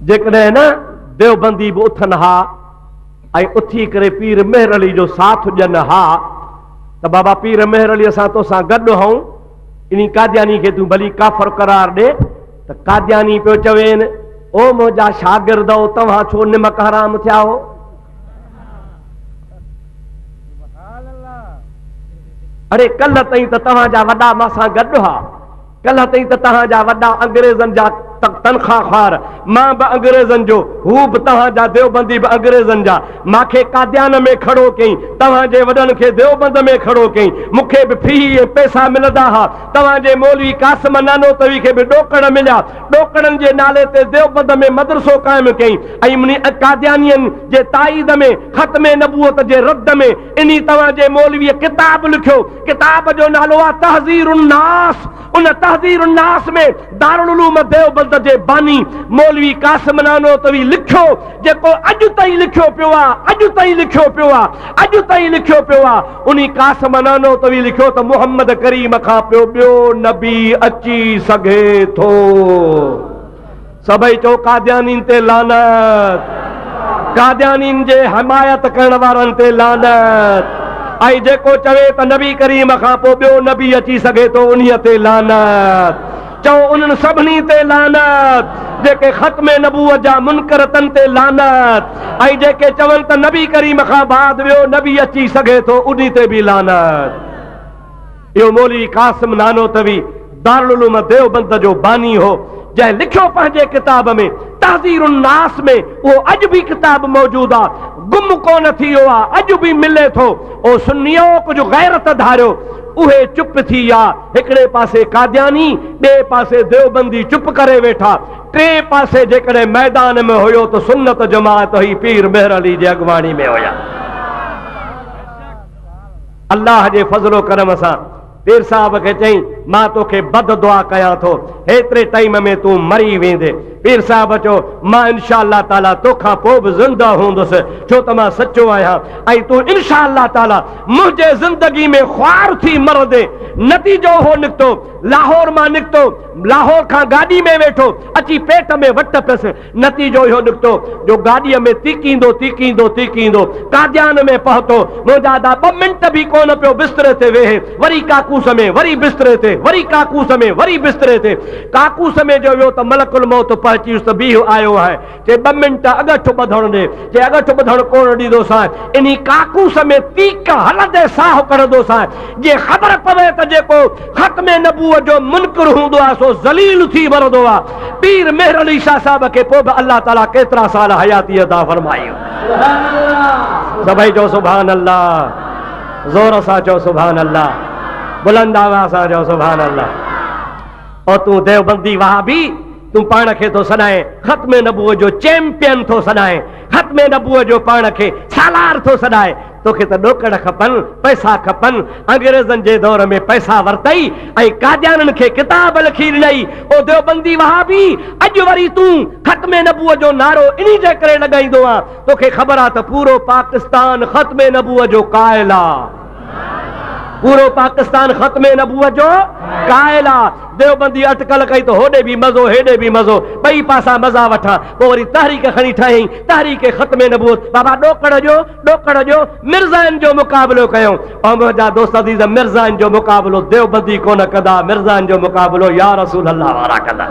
جيڪڏهن نه ديوبندي به اٿن ها ۽ اٿي ڪري پير مهر علي جو ساٿ ڏين ها ته بابا پير مهر علي اسان توسان گڏ هئون ان قادياني کي تون ڀلي ڪافر قرار ڏي ته قادياني پيو چوين او منهنجا شاگرد او توهان ڇو نمڪ حرام ٿيا هو اري ڪلھ تائين ته توهان جا وڏا مان سان گڏ ها ڪلھ تائين ته توهان جا وڏا انگريزن جا تنخواه خوار مان به انگريزن جو هو به توهان جا ديوبندي به انگريزن جا ماکي قاديان ۾ کڙو ڪئين توهان جي وڏن کي ديوبند ۾ کڙو ڪئين مون کي به فيهي ۽ پئسا ملندا ها توهان جي مولوي قاسم نانوتوي کي به ڏوڪڙ مليا ڏوڪڙن جي نالي تي ديوبند ۾ مدرسو قائم ڪيائين ۽ قاديانين جي تائيد ۾ ختم نبوت جي رد ۾ انهي توهان جي مولويء ڪتاب لکيو. ڪتاب جو نالو آهي تحذير الناس. ان تحذير الناس ۾ دارالعلوم ديوبند جي باني مولوي قاسم نانوتوي لکيو. جيڪو اڄ تائين لکيو پيو آ، اڄ تائين لکيو پيو آ، اڄ تائين لکيو پيو آ، انهي قاسم نانوتوي لکيو ته محمد ڪريم کان پيو ٻيو نبي اچي سگهي ٿو. سڀئي چئو قاديانين تي لعنت. قاديانين جي حمايت ڪرڻ وارن تي لعنت. ۽ جيڪو چوي ته نبي ڪريم کان پوء ٻيو نبي اچي سگهي ٿو انهي تي لعنت. چئو انهن سڀني تي لعنت جيڪي ختم نبوت جا منڪر تن تي لعنت ۽ جيڪي چون ته نبي ڪريم کان بعد ٻيو نبي اچي سگهي ٿو انهي تي به لعنت اهو مولوي قاسم نانوتوي دارالعلوم ديوبند جو باني هو جنهن لکيو پنهنجي ڪتاب ۾ تحذير الناس ۾ اهو اڄ به ڪتاب موجود آ گم ڪونه ٿي ويو آ اڄ به ملي ٿو او سنيو ڪجهه غيرت ڌاريو اهي چپ ٿي ويا. هڪڙي پاسي قادياني، ٻئي پاسي ديوبندي چپ ڪري ويٺا. ٽئين پاسي جيڪڏهن ميدان ۾ هيو ته سنت جماعت هئي، پير مهر علي جي اڳواڻي ۾ هيا. الله جي فضل و ڪرم سان پير صاحب کي چيائين، مان توکي بد دعا ڪيان ٿو، هيتري ٽائيم ۾ تون مري ويندين. پير صاحب چيو، مان انشاء الله تعاليٰ تو کان پوء به زنده هوندس، ڇو ته مان سچو آهيان ۽ تون انشاء الله تعاليٰ منهنجي زندگي ۾ خوار ٿي مرندين. نتيجو اهو نڪتو، لاهور مان نڪتو، لاهور کان گاڏي ۾ ويٺو، اچي پيٽ ۾ وٽ پيس. نتيجو اهو نڪتو جو گاڏيء ۾ تيڪيندو تيڪيندو تيڪيندو قاديان ۾ پهتو. منهنجا ادا ٻه منٽ به ڪونه پيو بستري تي ويهي. وري ڪاڪوس ۾ وري بستري تي وري ڪاڪوس ۾ وري بستري تي ڪاڪوس ۾ جو ويو ته ملڪ الموت پهچيس ته بيهه آيو آهي چي ٻه منٽ اڳٺ ٻڌڻ ڏي چي اڳٺ ٻڌڻ ڪونه ڏيندوسانء انهي ڪاڪوس ۾ تيڪ هلندي ساهه ڪڍندوسانء جي خبر پوي ته جيڪو ختم نبوت جو منڪر هوندو آهي سو ذليل ٿي مرندو آهي پير مهر علي شاهه صاحب کي پوء به الله تعالي ڪيترا سال حياتي عطا فرمائي سڀئي چئو سبحان الله. زور سان چئو سبحان الله بلند آواز سان چئو سبحان الله او تون دیوبندي وهابي تون پاڻ کي ٿو سڏائين ختم نبوء جو چيمپيئن ٿو سڏائين ختم نبوء جو پاڻ کي سالار ٿو سڏائي توکي ته ڏوڪڙ کپن پئسا کپن انگريزن جي دور ۾ پئسا ورتئي ۽ قاديانن کي ڪتاب لکي ڏنئي او ديوبندي وهابي اڄ وري تون ختم نبوء جو نعرو انهي جي ڪري لڳائيندو آ توکي خبر آ ته پورو پاڪستان ختم نبوت جو قائل آ پورو پاڪستان ختم نبوت جو قائل آ ديوبندي اٽڪل ڪئي ته هوڏي به مزو هيڏي به مزو ٻئي پاسا مزا وٺان پوء وري تحريڪ کڻي ٺاهيائين تحريڪ ختم نبوت بابا ڏوڪڙ جو ڏوڪڙ جو مرزائن جو مقابلو ڪيائون او منهنجا دوست عزيز مرزائن جو مقابلو ديوبندي ڪونه ڪندا مرزائن جو مقابلو يا رسول الله وارا ڪندا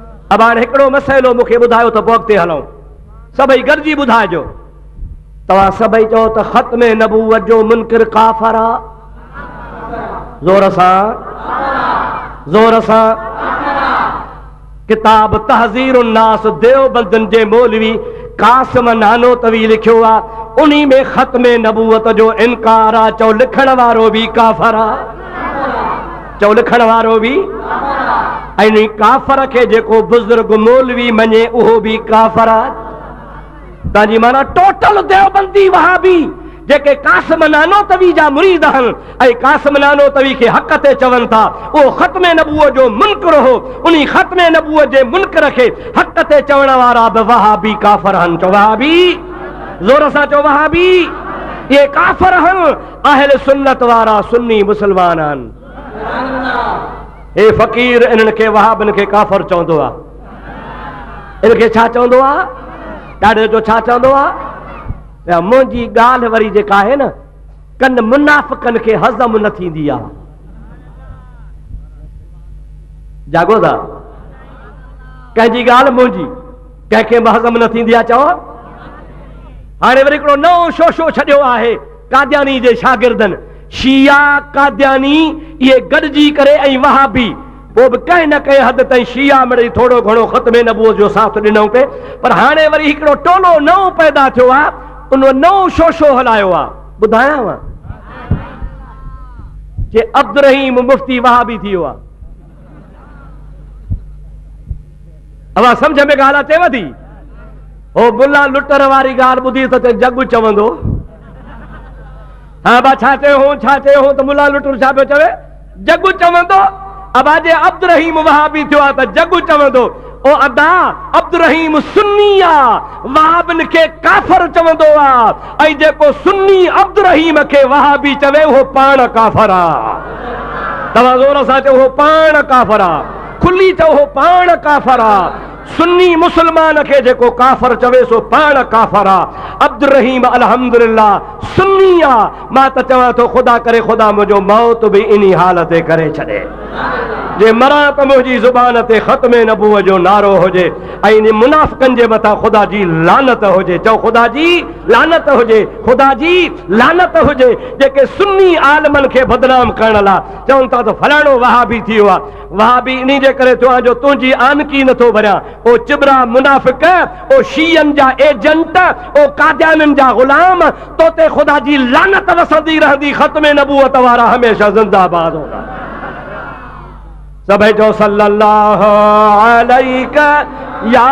ابا هاڻي هڪڙو مسئلو مون کي ٻڌايو ته پوء اڳتي هلون. سڀئي گڏجي ٻڌائجو. توهان سڀئي چئو ته ختم نبوت جو منڪر ڪافر آ. زور سان. زور سان. ڪتاب تحذير الناس ديوبندن جي مولوي قاسم نانوتوي لکيو آ. انهي ۾ ختم نبوت جو انڪار آ. چئو لکڻ وارو به ڪافر آ. چئو لکڻ وارو به ۽ ڪافر کي جيڪو بزرگ مولوي مڃي اهو به ڪافر آ تان جي معنی ٽوٽل ديوبندي وهابي جيڪي قاسم نانوتوي جا مريد آهن ۽ قاسم نانوتوي کي حق تي چون ٿا اهو ختم نبوء جو منڪر هو انهي ختم نبوء جي منڪر کي حق تي چوڻ وارا به وهابي ڪافر هن چو وهابي زور سان چو وهابي اهي ڪافر هن اهل سنت وارا سني مسلمان آهن. هي فقير انهن کي وهابن کي ڪافر چوندو آ. ان کي ڇا چوندو آ؟ ڏاڍو جو ڇا چوندو آ؟ منهنجي ڳالهه وري جيڪا آهي نه ڪن منافقن کي هضم نه ٿيندي آ. جاڳو ٿا ڪنهن جي ڳالهه منهنجي ڪنهن کي به هضم نه ٿيندي آ چئو هاڻي وري هڪڙو نئون شوشو ڇڏيو آهي قادياني جي شاگردن، شيعا، قادياني، اهي گڏجي ڪري ۽ وهابي، پوء به ڪنهن نه ڪنهن حد تائين شيعا مڙئي ٿورو گهڻو ختم نبوت جو ساٿ ڏنو پئي، پر هاڻي وري هڪڙو ٽولو نئون پيدا ٿيو آ، ان نئون شوشو هلايو آ. ٻڌايانء؟ جي عبدالرحيم مفتي وهابي ٿي ويو آ. اوهان سمجھ ۾ ڳالهه اچيو ٿي هو بلا لٽر واري ڳالهه ٻڌي ته جڳ چوندو ها با ڇا چيو هو ڇا چيو هو ته ملا لٽر ڇا پيو چوي جڳ چوندو ابا جي عبد الرحيم وهابي ٿيو آ ته جڳ چوندو او ادا! عبدالرحيم سني آ، وهابين کي ڪافر چوندو آ ۽ جيڪو سني عبدالرحيم کي وهابي چوي اهو پاڻ ڪافر آ. توهان زور سان چئو اهو پاڻ ڪافر آ. کلي چئو اهو پاڻ ڪافر آ. سني مسلمان کي جيڪو ڪافر چوي سو پاڻ ڪافر آ. عبدالرحيم الحمدلله سني آ. مان ته چوان ٿو خدا ڪري خدا منهنجو موت به انهي حال تي ڪري ڇڏي جي مران ته منهنجي زبان تي ختم نبوت جو نعرو هجي ۽ انهن منافقن جي مٿان خدا جي لعنت هجي چئو خدا جي لعنت هجي خدا جي لعنت هجي جيڪي سني عالمن کي بدنام ڪرڻ لا چون ٿا ته فلاڻو وهابي ٿي ويو آهي وهاء به انهي جي ڪري ٿيو آهي جو تنهنجي آنڪي نه ٿو ڀريان. او چٻرا منافق، او شيعن جا ايجنٽ، او قاديانين جا غلام، تو تي خدا جي لعنت وسندي رهندي ختم نبوت وارا هميشه زنده باد هوندا. سڀئي چئو صلّي اللّٰه عليڪ يا.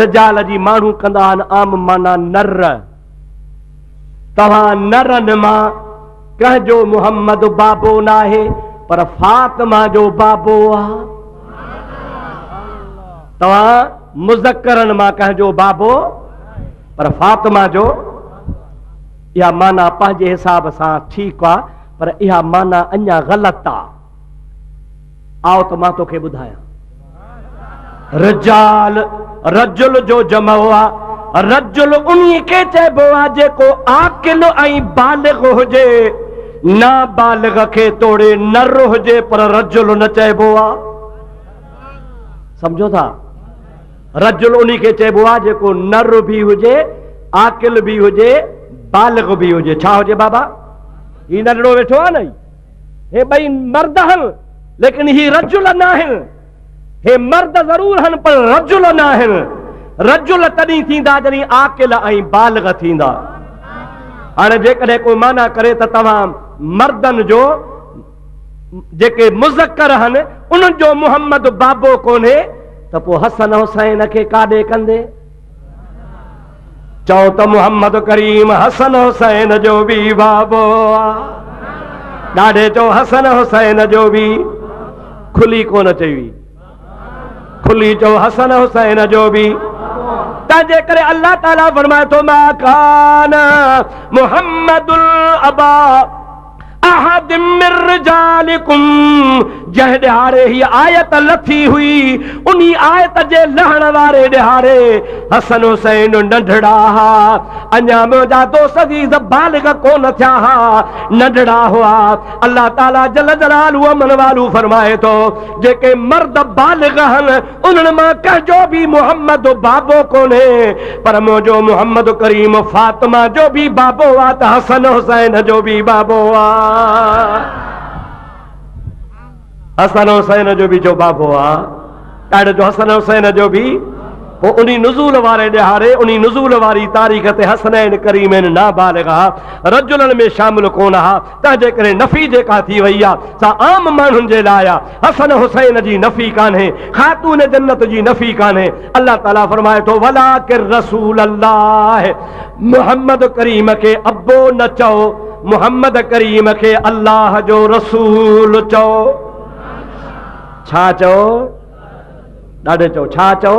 رجال جي ماڻهو ڪندا آهن عام معنيٰ نر توهان نرن مان ڪنهن جو محمد بابو ناهي پر فاطمه جو بابو آهي توهان مذڪرن مان ڪنهن جو بابو پر فاطمه جو اها معنی پنهنجي حساب سان ٺيڪ آهي پر اها معنی اڃا غلط آهي آء ته مان توکي ٻڌايان. رجال رجل جو جمع آ. رجل انهي کي چئبو آ جيڪو عاقل ۽ بالغ هجي. نابالغ کي توڙي نر هجي پر رجل نه چئبو آ. سمجهو ٿا؟ رجل انهي کي چئبو آ جيڪو نر به هجي، عاقل به هجي، بالغ به هجي. ڇا هجي بابا؟ هي ننڍڙو ويٺو آ نه هي. هي ٻئي مرد هن ليڪن هي رجل ناهن. هي مرد ضرور هن پر رجل ناهن. رجل تڏهن ٿيندا جڏهن عاقل ۽ بالغ ٿيندا. هاڻي جيڪڏهن ڪو معنيٰ ڪري ته توهان مردن جو جيڪي مذڪر هن انهن جو محمد بابو ڪونهي ته پوء حسن حسين کي ڪاڏي ڪندي؟ چئو ته محمد ڪريم حسن حسين جو به بابو آ ڏاڍي چئو حسن حسين جو به کلي ڪونه چئي وي کلي چئو حسن حسين جو به تنهنجي ڪري الله تعاليٰ فرمائي ٿو ما کان محمد الابا احد من رجالڪم جنهن ڏهاڙي هيء آيت لٿي هئي، انهي آيت جي لهڻ واري ڏهاڙي حسن حسين ننڍڙا ها، اڃا منهنجا دو سزيز بالغ ڪونه ٿيا ها، ننڍڙا هئا. الله تعاليٰ جل جلاله من والو فرمائي ٿو، جيڪي مرد بالغ هن، انهن مان ڪنهن جو به محمد بابو ڪونهي، پر منهنجو محمد ڪريم فاطمه جو به بابو آ ته حسن حسين جو به بابو آ. حسن حسين جو به جو بابو آ، ڏاڏ جو حسن حسين جو به پوء انهي نزول واري ڏهاڙي انهي نزول واري تاريخ تي حسنين ڪريمين نابالغ ها رجلن ۾ شامل ڪونه ها. تنهنجي ڪري نفي جيڪا ٿي وئي آهي سا عام ماڻهن جي لاء آهي، حسن حسين جي نفي ڪانهي، خاتون جنت جي نفي ڪانهي، الله تعالي فرمائي ٿو ولاڪن رسول الله محمد ڪريم کي ابو نه چئو، محمد ڪريم کي الله جو رسول چئو. ڇا چئو؟ ڏاڍي چئو ڇا چئو؟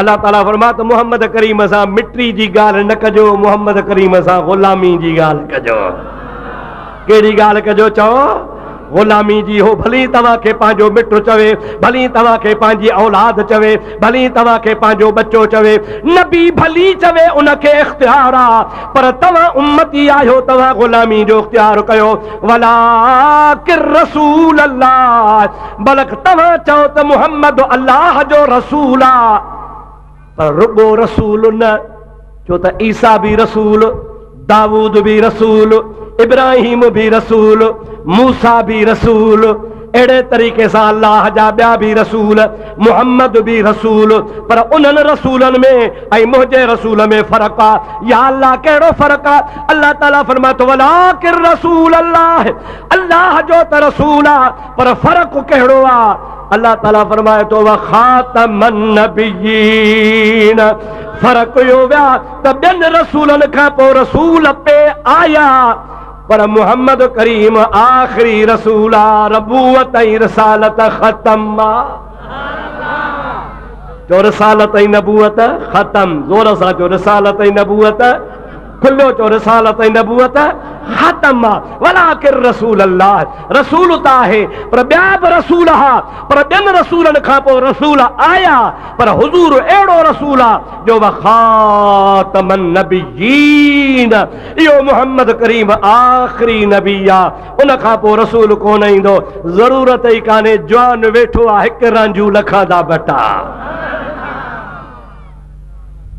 الله تعالي فرمايو ته محمد ڪريم سان مٽري جي ڳالهه نه ڪجو، محمد ڪريم سان غلامي جي ڳالهه ڪجو. ڪهڙي ڳالهه ڪجو؟ چئو غلامي جي. هو ڀلي توهان کي پنهنجو مٽ چوي، ڀلي توهان کي پنهنجي اولاد چوي، ڀلي توهان کي پنهنجو ٻچو چوي، نبي ڀلي چوي ان کي اختيار آ پر توهان امتي آهيو توهان غلامي جو اختيار ڪيو، ولاڪن رسول الله. بلڪ توهان چئو ته محمد الله جو رسول آ پر رڳو رسول نه ڇو ته عيسيٰ به رسول، داود به رسول، ابراهيم به رسول، موسيٰ به رسول، اهڙي طريقي سان الله جا ٻيا به رسول، محمد به رسول پر انهن رسولن ۾ ۽ منهنجي رسول ۾ فرق آ. يا الله ڪهڙو فرق آ؟ الله تعاليٰ فرمائي ٿو، ولاڪن رسول الله الله جو ته رسول آ. پر فرق ڪهڙو آ؟ الله تعالي فرمائي ٿو وخاتم النبيين فرق اهو ويا ته ٻين رسولن کان پوء رسول پي آيا پر محمد ڪريم آخري رسول آ ربوت ۽ رسالت ختم آ جو رسالت ۽ نبوت ختم زور سان جو رسالت ۽ نبوت کليو جو رسالت ۽ نبوت ختم آ ولاڪن رسول الله رسول ته آهي پر ٻيا به رسول ها پر ٻين رسولن کان پوء رسول آيا پر حضور اهڙو رسول آ جو وخاتم النبيين اهو محمد ڪريم آخري نبي آ ان کان پوء رسول ڪونه ايندو ضرورت ئي ڪانهي جوان ويٺو آ هڪ رانجهو لکان دا ٻٽا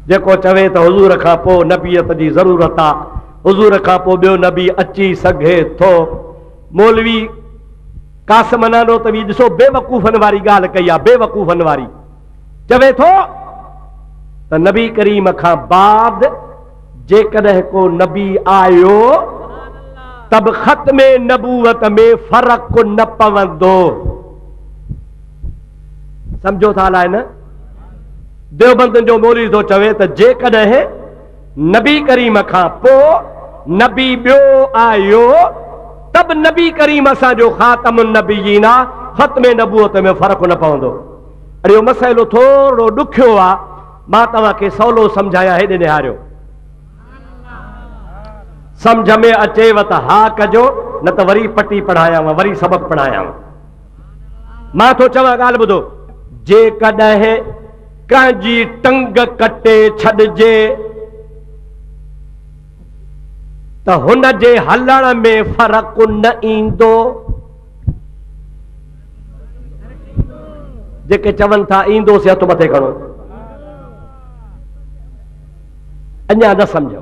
جيڪو چوي ته حضور کان پوء نبيت جي ضرورت آ، حضور کان پوء ٻيو نبي اچي سگهي ٿو. مولوي قاسم نانوتوي ڏسو بيوقوفن واري ڳالهه ڪئي آ، بيوقوفن واري. چوي ٿو ته نبي ڪريم کان بعد جيڪڏهن ڪو نبي آيو ته به ختم نبوت ۾ فرق نه پوندو. سمجهو ٿا الائي نه ديوبندن جو مولوي ٿو چوي ته جيڪڏهن نبي ڪريم کان پو نبي بيو آيو تب نبي ڪريم اسان جو خاتم النبيين آ ختم نبوت ۾ فرق نه پوندو اڙيو مسئلو ٿورو ڏکيو آ مان توهان کي سولو سمجھايان هيڏي نهاريو سمجھ ۾ اچيو ته ها ڪجو نه ته وري پٽي پڙهايان وري سبق پڙهايان مان ٿو چوان ڳالهه ٻڌو، جيڪڏهن ڪنهن جي ٽنگ ڪٽي ڇڏجي ته هن جي هلڻ ۾ فرق نه ايندو. جيڪي چون ٿا ايندو سي هٿ مٿي کڻو اڃا نه سمجهيو.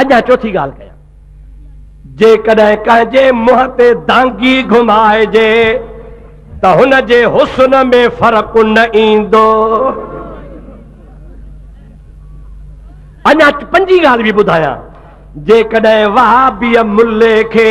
اڄان چوٿين ڳالهه ڪيان، جيڪڏهن ڪنهن جي منهن تي دانگي گهمائجي ته هن جي حسن ۾ فرق نه ايندو. اڃا پنجين ڳالهه به ٻڌايان، جيڪڏهن وهابيء ملي کي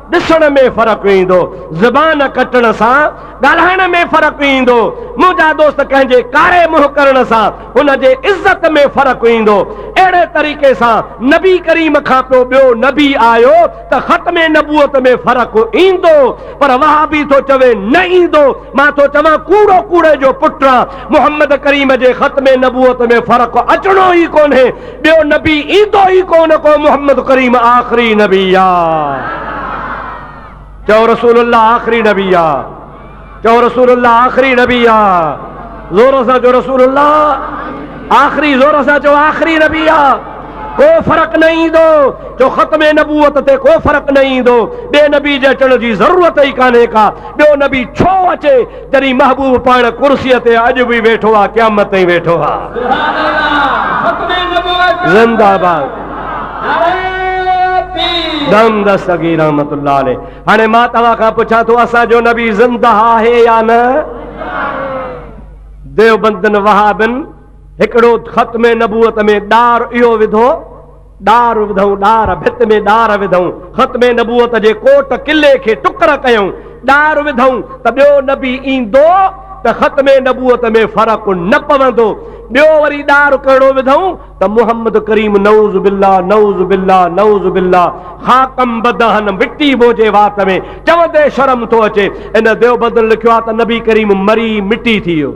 ڏسڻ ۾ فرق ايندو، زبان ڪٽڻ سان ڳالهائڻ ۾ فرق ايندو، منهنجا دوست ڪنهن جي ڪاري منهن ڪرڻ سان ان جي عزت ۾ فرق ايندو، اهڙي طريقي سان نبي ڪريم کان پوء ٻيو نبي آيو ته ختم نبوت ۾ فرق ايندو پر وهابي ٿو چوي نه ايندو، مان ٿو چوان ڪوڙو ڪوڙي جو پٽ آن، محمد ڪريم جي ختم نبوت ۾ فرق اچڻو ئي ڪونهي، ٻيو نبي ايندو ئي ڪونه ڪو محمد ڪريم آخري نبي آ چئو رسول الله آخري نبي آ چئو رسول الله آخري نبي آ زور سان چئو رسول الله آخري زور سان چئو آخري نبي آ ڪو فرق نه ايندو جو ختم نبوت تي ڪو فرق نه ايندو ٻي نبي جي اچڻ جي ضرورت ئي ڪانهي ڪا ٻيو نبي ڇو اچي جڏهن محبوب پاڻ ڪرسيء تي اڄ به ويٺو آ قيامت تائين ويٺو آ. زنده باد. دم دستگير رحمت الله عليه هاڻي مان توهان کان پڇان ٿو اسان جو نبي زنده آهي يا نه ديوبندن وهابن هڪڙو ختم نبوت ۾ ڏار اهو وڌو ڏار وڌئون ڏار ڀت ۾ ڏار وڌئون ختم نبوت جي ڪوٽ قلعي کي ٽڪر ڪيئون ڏار وڌئون ته ٻيو نبي ايندو ته ختم نبوت ۾ فرق نه پوندو ٻيو وري ڏار ڪهڙو وڌئون ته محمد ڪريم نعوذ بالله نعوذ بالله نعوذ بالله خاڪم بدهن مٽي بو جي وات ۾ چوندي شرم ٿو اچي ان ديوبندن لکيو آهي ته نبي ڪريم مري مٽي ٿي ويو.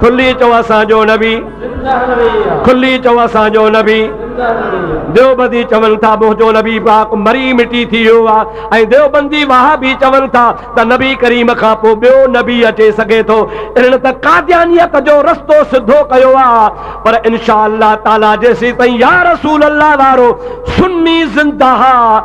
کلي چئو اسان جو نبي کلي چئو اسان جو نبي ديوبندي چون ٿا منهنجو نبي پاڪ مري مٽي ٿي ويو آ ۽ ديوبندي واها به چون ٿا ته نبي ڪريم کان پوء ٻيو نبي اچي سگهي ٿو انهن ته قاديانيت جو رستو سڌو ڪيو آ پر انشاء الله تعالي جيسين تائين يا رسول الله وارو سني زنده آ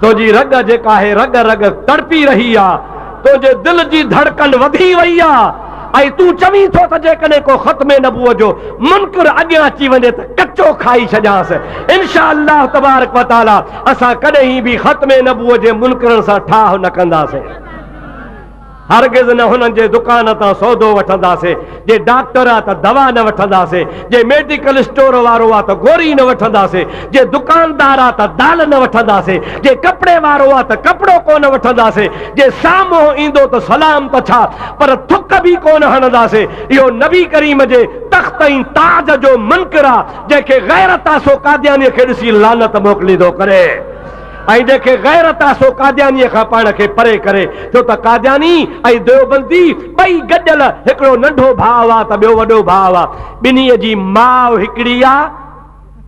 تنهنجي رڳ جيڪا آهي رڳ رڳ تڙپي رهي آ، تنهنجي دل جي ڌڙڪن وڌي وئي آ ۽ تون چوين ٿو ته جيڪڏهن ڪو ختم نبوت جو منڪر اڳيان اچي وڃي ته ڪچو کائي ڇڏيانس. انشاء الله تبارڪ و تعالٰي اسان ڪڏهن به ختم نبوت جي منڪرن سان ٺاهه نه ڪنداسين. هرگز نه هنن جي دڪان تان سودو وٺنداسين، جي ڊاڪٽر آ ته دوا نه وٺنداسين، جي ميڊيڪل اسٽور وارو آ ته گوري نه وٺنداسين، جي دڪاندار آ ته دال نه وٺنداسين، جي ڪپڙي وارو آ ته ڪپڙو ڪو نه وٺنداسين، جي سامهون ايندو ته سلام ته ڇا پر ٿڪ به ڪو نه هڻنداسين، اهو نبي ڪريم جي تخت ۽ تاج جو منڪر آ، جنهن کي غيرت آ سو قاديانيء کي ڏسي لعنت موڪليندو ڪري. ۽ ڏيکي غيرت آ سو قاديانيء کان پاڻ کي پري ڪري، ڇو ته قادياني ۽ ديوبندي ٻئي گڏيل هڪڙو ننڍو ڀاء هئا ته ٻيو وڏو ڀاء هئا. ٻنهي جي ماء هڪڙي آ،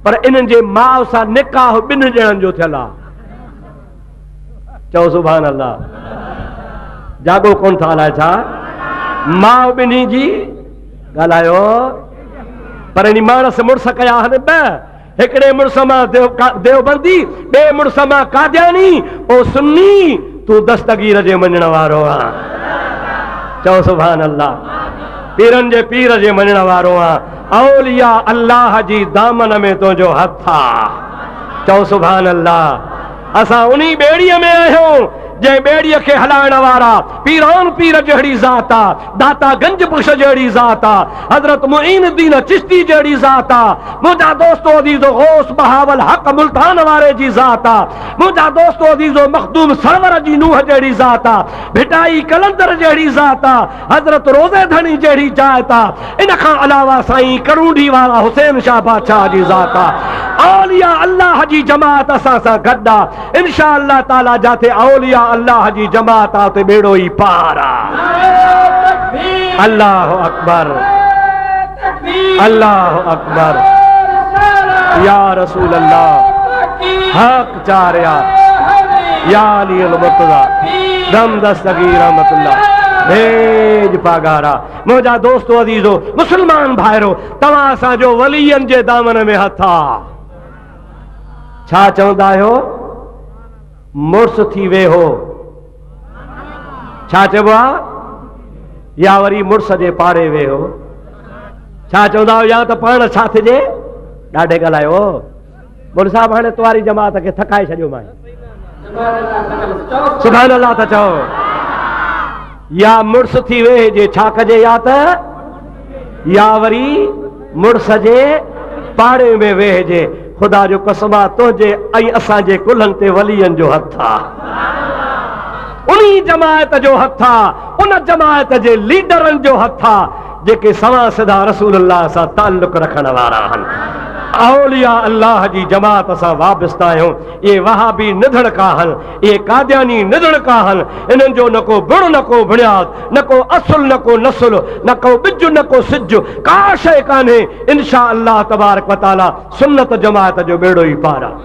پر انهن جي ماء سان نڪاح ٻن ڄڻن جو ٿيل آ. چئو سبحان الله. جاڳو ڪونه ٿا الائي ڇا؟ ماء ٻنهي جي ڳالهايو. پرڻي ماڻس مڙس ڪيا آهن ٻه. هڪڙي مڙس مان ديوبندي، ٻئي مڙس مان قادياني، او سني تون دستگير جي مڃڻ وارو آن. چئو سبحان الله. پيرن جي پير جي مڃڻ وارو آن. اولياء الله جي دامن ۾ تنهنجو هٿ آ. چئو سبحان الله. اسان انهي ٻيڙيء ۾ آهيون، جنهن ٻيڙيء کي هلائڻ وارا پيران پير جهڙي ذات آ، داتا گنج بخش جهڙي ذات آ، حضرت معين الدين چشتي جهڙي ذات آ، منهنجا دوستو عزيزو غوث بهاوالحق ملتان واري جي ذات آ، منهنجا دوستو عزيزو مخدوم سرور جي نوح جهڙي ذات آ، ڀٽائي قلندر جهڙي ذات آ، حضرت روضي ڌڻي جهڙي جاء ته ان کان علاوه سائين ڪرونڊي وارا حسين شاهه بادشاهه جي ذات آ. اولياء الله جي جماعت اسان سان گڏ آ. انشاء الله تعالي جاٿي اولياء الله جي جماعت آ اتي ٻيڙو ئي پار آ. الله اڪبر الله اڪبر يا رسول الله حق چار يار يا علي المرتضا دم دستگي رحمت الله بھيج پاگارا منهنجا دوستو عزيزو مسلمان ڀائرو توهان اسان جو ولين جي دامن ۾ هٿ آ ڇا چوندا آهيو مڙس ٿي ويهو ڇا چئبو آ يا وري مڙس جي پاڙي ويهو ڇا چوندا آهيو يا ته پاڻ ساٿ جي ڏاڍي ڳالهايو مڙ صاحب هاڻي تواري جماعت کي ٿڪائي ڇڏيو مان سبحان الله ٿا چئو يا مڙس ٿي وي جي ڇا ڪجي يا ته يا وري مڙس جي پاڙي ۾ ويهجي خدا جو قسم آ تنهنجي ۽ اسان جي ڪلهن تي وليين جو هٿ آ انهي جماعت جو هٿ آ ان جماعت جي ليڊرن جو هٿ آ جيڪي سوا سڌا رسول الله سان تعلق رکڻ وارا آهن اولياء الله جي جماعت سان وابسته آهيون اهي وهابي نڌڻڪ آهن اهي قادياني نڌڻڪ آهن انهن جو نه ڪو بڻ نه ڪو بڻياد نه ڪو اصل نه ڪو نسل نه ڪو ٻج نه ڪو سج ڪا شيء ڪانهي انشاء الله تبارڪ وتعالي سنت جماعت جو ٻيڙو ئي پار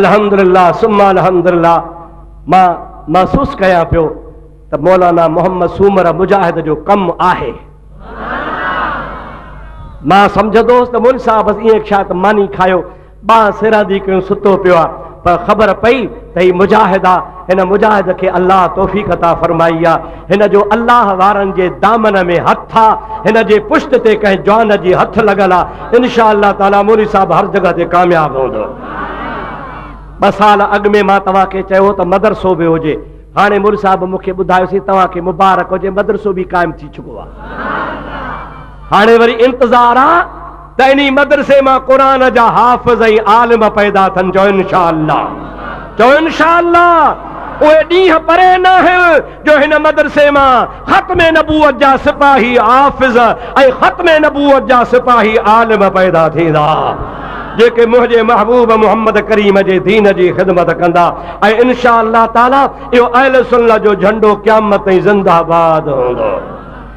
الحمدلله ثم الحمدلله مان محسوس ڪيان پيو ته مولانا محمد سومر مجاهد جو ڪم آهي مان سمجهندو هوس ته مول صاحب بس ائين ڇا ته ماني کايو ٻانهن سرهندي ڪيون ستو پيو آ پر خبر پئي ته هي مجاهد آ هن مجاهد کي الله توفيق عطا فرمائي آ هن جو الله وارن جي دامن ۾ هٿ آ هن جي پشت تي ڪنهن جوان جي هٿ لڳل آ انشاء الله تعالي مولوي صاحب هر جڳهه تي ڪامياب هوندو ٻه سال اڳ ۾ مان توهان کي چيو ته مدرسو به هجي هاڻي مور صاحب مون کي ٻڌايوسي توهان کي مبارڪ هجي مدرسو به قائم ٿي چڪو آهي هاڻي وري انتظار آهي ته انهي مدرسي مان قرآن جا حافظ ۽ عالم پيدا ٿن چؤ انشاء الله چؤ انشاء الله اهي ڏينهن پري ناهن جو هن مدرسي مان ختم نبوت جا سپاهي حافظ ۽ ختم نبوت جا سپاهي عالم پيدا ٿيندا جيڪي منهنجي محبوب محمد ڪريم جي دين جي خدمت ڪندا ۽ انشاء الله تعالي اهو اهل سنت جو جهنڊو قيامت تائين زنده باد هوندو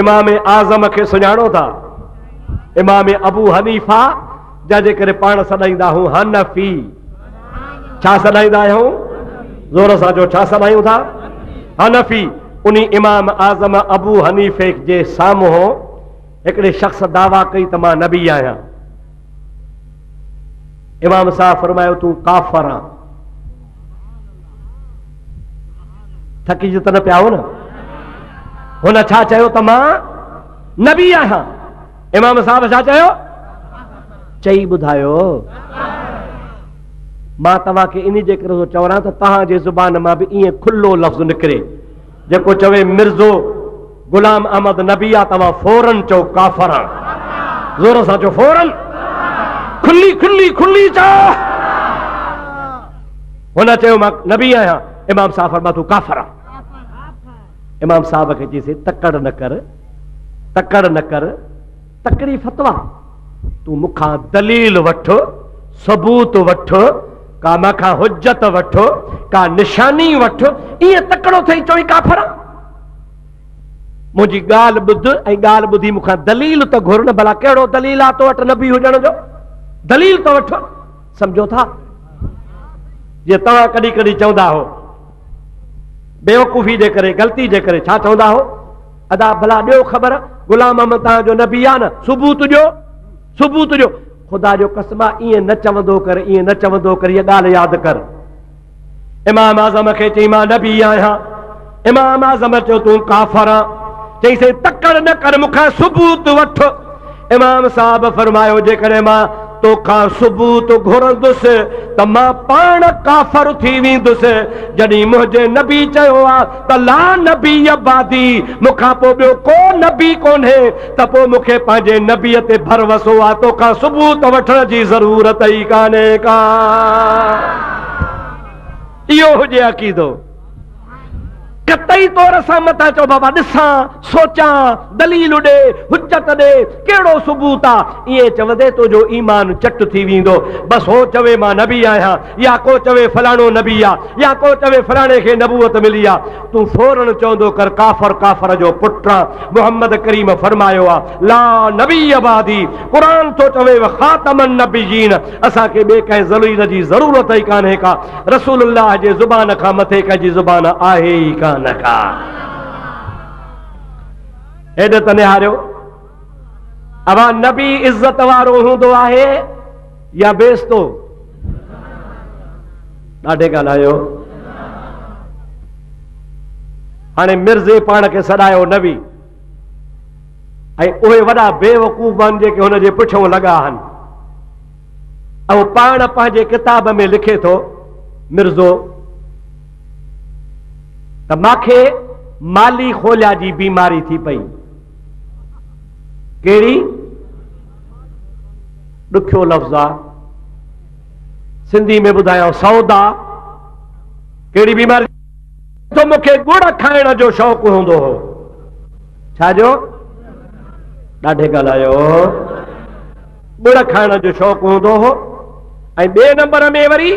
امام اعظم کي سڃاڻو ٿا امام ابو حنيفا جا جي ڪري پاڻ سڏائيندا هون حنفي ڇا سڏائيندا آهيون زور سان جو ڇا سڏايون ٿا حنفي ان امام اعظم ابو حنيفي جي سامهون هڪڙي شخص دعويٰ ڪئي ته مان نبي آهيان امام صاحب فرمايو تون ڪافر آن ٿڪي جو ته نه پيا هو نه هن ڇا چيو ته مان نبي آهيان امام صاحب ڇا چيو چئي ٻڌايو مان توهان کي ان جي ڪري ٿو چوان ته تهان جي زبان مان به ائين کلو لفظ نڪري جيڪو چوي مرزو غلام احمد نبي آ توهان فورن چئو ڪافر آ زور سان چئو فورن کلي کلي کلي چا هن چيو مان نبي آهيان امام صاحب فرما تون ڪافر آ امام صاحب کي چيسي تڪڙ نه ڪر تڪڙ نه ڪر تڪڙي فتويٰ، تون مون کان دليل وٺ، ثبوت وٺ، ڪا مان کان حجت وٺ، ڪا نشاني وٺ، ائين تڪڙو ٿئي چوين ڪافر آهن. منهنجي ڳالهه ٻڌ ۽ ڳالهه ٻڌي مون کان دليل ته گهر نه ڀلا ڪهڙو دليل آهي تو وٽ نبي هجڻ جو؟ دليل ته وٺ. سمجهو ٿا؟ جيئن توهان ڪڏهن ڪڏهن چوندا هو بيوقوفي جي ڪري غلطي جي ڪري ڇا چوندا هو ادا ڀلا ڏيو خبر غلام محمد تان جو نبي آ نه ثبوت ڏيو ثبوت ڏيو خدا جو قسم آ ايئن نه چوندو ڪر ايئن نه چوندو ڪر هيء ڳالهه ياد ڪر امام اعظم کي چي مان نبي آهيان امام اعظم چيو تون ڪافر آ چي سي تڪڙ نه ڪر مونکان ثبوت وٺ امام صاحب فرمايو، جيڪڏهن مان توکان ثبوت گهرندس ته مان پاڻ ڪافر ٿي ويندس، جڏهن منهنجي نبي چيو آهي ته لا نبي بعدي، مون کان پوء ٻيو ڪو نبي ڪونهي، ته پوء مون کي پنهنجي نبي تي ڀروسو آهي، توکان ثبوت وٺڻ جي ضرورت ئي ڪانهي ڪا. اهو هجي عقيدو. قطعي طور سان متان چئو بابا ڏسان، سوچان، دليل ڏي، حجت ڏي، ڪهڙو ثبوت آ؟ ائين چوندي تنهنجو ايمان چٽ ٿي ويندو. بس هو چوي مان نبي آهيان يا ڪو چوي فلاڻو نبي آ يا ڪو چوي فلاڻي کي نبوت ملي آ تون فورن چوندو ڪر ڪافر ڪافر جو پٽ آ محمد ڪريم فرمايو آ لا نبي بعدي قرآن ٿو چوي وخاتم النبيين اسان کي ٻي ڪنهن ذليل جي ضرورت ئي ڪانهي ڪا رسول الله جي زبان کان مٿي ڪنهن جي زبان آهي ئي ڪانه ڪا. هيڏ ته نهاريو اها نبي عزت وارو هوندو آهي يا بيستو ڏاڍي ڳالهايو هاڻي مرزي پاڻ کي سڏايو نبي ۽ اهي وڏا بيوقوف آهن جيڪي هن جي پٺيون لڳا آهن اهو پاڻ پنهنجي ڪتاب ۾ لکي ٿو، مرزو، ته ماکي مالي خوليا جي بيماري ٿي پئي. ڪهڙي؟ ڏکيو لفظ آ. سنڌي ۾ ٻڌايان سودا. ڪهڙي بيماري؟ تو مون کي ڳڙ کائڻ جو شوق هوندو هو. ڇا جو؟ ڏاڍي ڳالهايو. ٻڙ کائڻ جو شوق هوندو هو ۽ ٻئي نمبر ۾ وري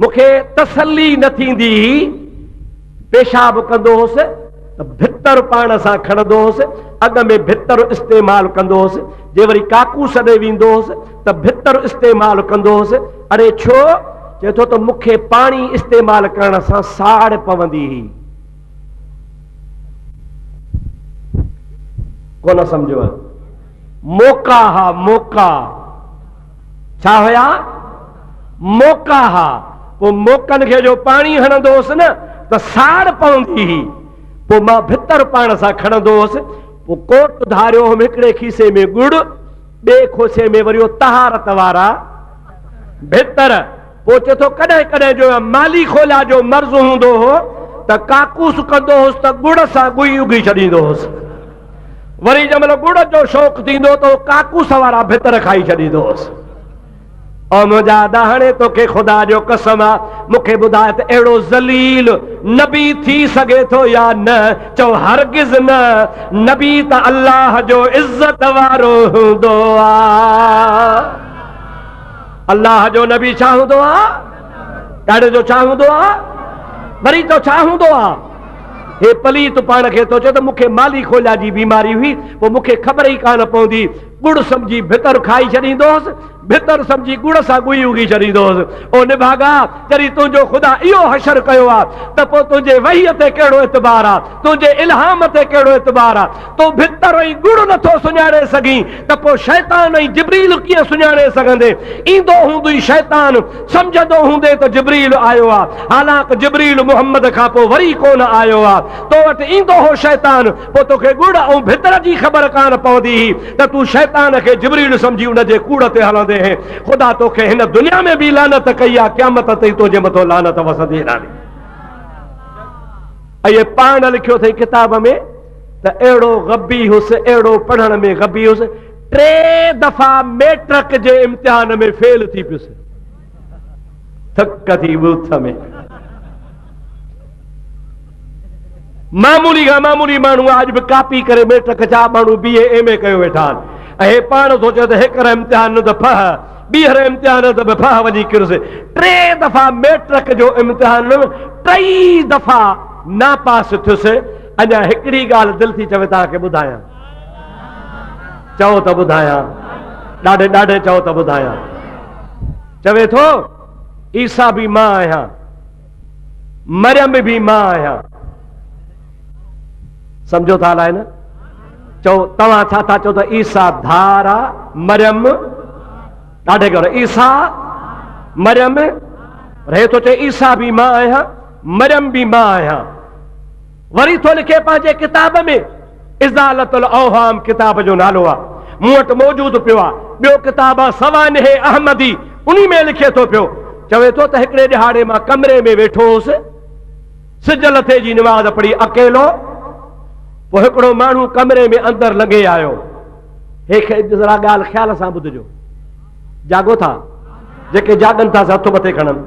مون کي تسلي نه ٿيندي هئي، پيشاب ڪندو هوس ته ڀتر پاڻ سان کڻندو هوس، اڳ ۾ ڀتر استعمال ڪندو هوس، جي وري ڪاڪوس ڏي ويندو هوس ته ڀتر استعمال ڪندو هوس، اڙي ڇو؟ چئي ٿو ته مون کي پاڻي استعمال ڪرڻ سان ساڙ پوندي هئي. ڪونه سمجهيو؟ موقعا ها موقعا ڇا هيا؟ موقعا ها. پوء موقعن کي جو پاڻي هڻندو هوس نه ته ساڙ پوندي هئي. پوء مان ڀتر پاڻ سان کڻندو هوس. پوء ڪوٽ ڌاريو هوم هڪڙي کيسي ۾ ڳڙ، ٻئي کوسي ۾ وريو طهارت وارا ڀتر. پوء چئي ٿو، ڪڏهن ڪڏهن جو مالي خولا جو مرض هوندو هو ته ڪاڪوس ڪندو هوس ته ڳڙ سان ڳوئي اگهي ڇڏيندو هوس. وري جنهن مهل ڳڙ جو شوق ٿيندو ته هو ڪاڪوس وارا ڀتر کائي ڇڏيندو هوس. او منهنجا ڏاهاڻي توکي خدا جو قسم آ مون کي ٻڌاء ته اهڙو ذليل نبي ٿي سگهي ٿو يا نه؟ چئو هرگز نه، نبي ته الله جو عزت وارو هوندو آ. الله جو نبي ڇا هوندو آ؟ ڏاڙهي جو ڇا هوندو آ؟ وري تو ڇا هوندو آ؟ هي پليت پاڻ کي ٿو چئي ته مونکي مالي خوليا جي بيماري هئي پوء مونکي خبر ئي ڪانه پوندي ڳڙ سمجهي ڀتر کائي ڇڏيندو هوس ڀتر سمجهي ڳڙ سان ڳوئي اگهي ڇڏيندو هوس او نڀاڳا جڏهن تنهنجو خدا اهو حشر ڪيو آ ته پوء تنهنجي وحي تي ڪهڙو اعتبار آ تنهنجي الهام تي ڪهڙو اعتبار آ تون ڀتر ۽ ڳڙ نٿو سڃاڻي سگهين ته پوء شيطان ۽ جبريل ڪيئن سڃاڻي سگهندي؟ ايندو هوندئي شيطان، سمجهندو هوندين ته جبريل آيو آ، حالانڪ جبريل محمد کان پوء وري ڪونه آيو آ. تو وٽ ايندو هو شيطان، پوء توکي ڳڙ ۽ ڀتر جي خبر ڪانه پوندي هئي ته تون شيطان کي جبريل سمجهي ان جي ڪوڙ تي هلندي هين. خدا توکي هن دنيا ۾ به لعنت ڪئي آ، قيامت تائين تنهنجي مٿو لعنت وسندي رهندي. اهي پاڻ لکيو اٿئي ڪتاب ۾. ته اهڙو غبي هيس، اهڙو پڙهڻ ۾ غبي هيس، ٽي دفعا ميٽرڪ جي امتحان ۾ فيل ٿي پيس. ٿڪ ٿي ٻوٿ ۾. معمولي کان معمولي ماڻهو آج به ڪاپي ڪري ميٽرڪ جا ماڻهو بي اي ايم اي ڪيو ويٺا آهن ۽ هي پاڻ ٿو چئي ته هيڪر امتحان نه ته ڦهه ٻيهر امتحان ته به ڦهه وڃي ڪرس ٽي دفعا ميٽرڪ جو امتحان ٽئي دفعا ناپاس ٿيس اڄ هڪڙي ڳالهه دل ٿي چوي توهان کي ٻڌايان چئو ته ٻڌايان ڏاڍي ڏاڍي چئو ته ٻڌايان چوي ٿو عيسا به مان آهيان مريم به مان آهيان سمجھو ٿا الائي نه چئو توهان ڇا ٿا چئو ته عيسا ڌار آهي مريم ڏاڍي ڳالهه عيسا مريم رهي ٿو چئي عيسا به مان آهيان مريم به مان آهيان. وري ٿو لکي پنهنجي ڪتاب ۾ ازالة الاوهام ڪتاب جو نالو آ مون وٽ موجود پيو آ ٻيو ڪتاب آ سوانح احمدي انهي ۾ لکي ٿو پيو چوي ٿو ته هڪڙي ڏهاڙي مان ڪمري ۾ ويٺو هوس سج لٿي جي نماز پڙهي اڪيلو پوء هڪڙو ماڻهو ڪمري ۾ اندر لنگهي آيو هي ذرا ڳالهه خيال سان ٻڌجو جاڳو ٿا جيڪي جاڳن ٿا سي هٿ مٿي کڻن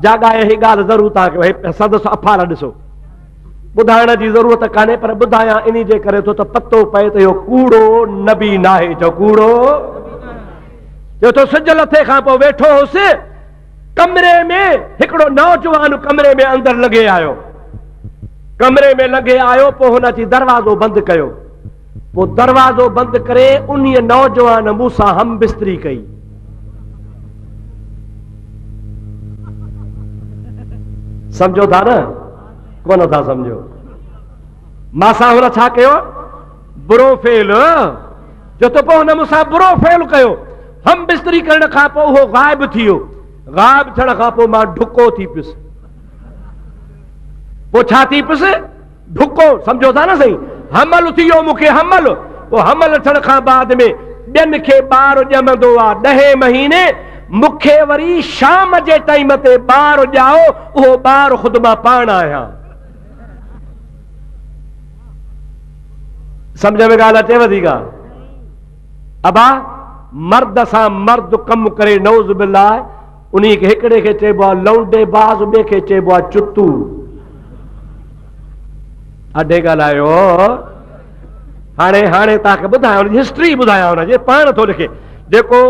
جاڳائي هي ڳالهه ضرور تان ڪيو هي سندس افار ڏسو ٻڌائڻ جي ضرورت ڪانهي پر ٻڌايان ان جي ڪري ٿو ته پتو پئي ته اهو ڪوڙو نبي ناهي جو ڪوڙو جو تو سج لٿي کان پوء ويٺو هوس ڪمري ۾ هڪڙو نوجوان ڪمري ۾ اندر لنگهي آيو. ڪمري ۾ لنگهي آيو پوء هن اچي دروازو بند ڪيو. پوء دروازو بند ڪري انهيء نوجوان مون سان هم بستري ڪئي. سمجهو ٿا نه؟ ڪونه ٿا سمجهو. مان سان هن ڇا ڪيو؟ برو فعل. جو تو پوء هن مون سان برو فعل ڪيو. هم بستري ڪرڻ کان پوء هو غائب ٿي ويو. غائب ٿيڻ کان پوء مان ڊڪو ٿي پيس. پوء ڇا ٿي پيس؟ ڊڪو، سمجهو ٿا نه سائين؟ حمل ٿي ويو مون کي حمل. پوء حمل ٿيڻ کان بعد ۾ ٻين کي ٻار ڄمندو آ. ڏهين مهيني مون کي وري شام جي ٽائيم تي ٻار ڄائو، اهو ٻار خود مان پاڻ آهيان. سمجھ ۾ ڳالھ اچيو ٿي ڪا ابا مرد سان مرد ڪم ڪري نوز بالله انهي کي هڪڙي کي چئبو آ لونڊي باز ٻي کي چئبو آ چتو اڍي ڳالهايو هاڻي هاڻي توهان کي ٻڌايان ان جي هسٽري ٻڌايان ان جي پاڻ ٿو لکي جيڪو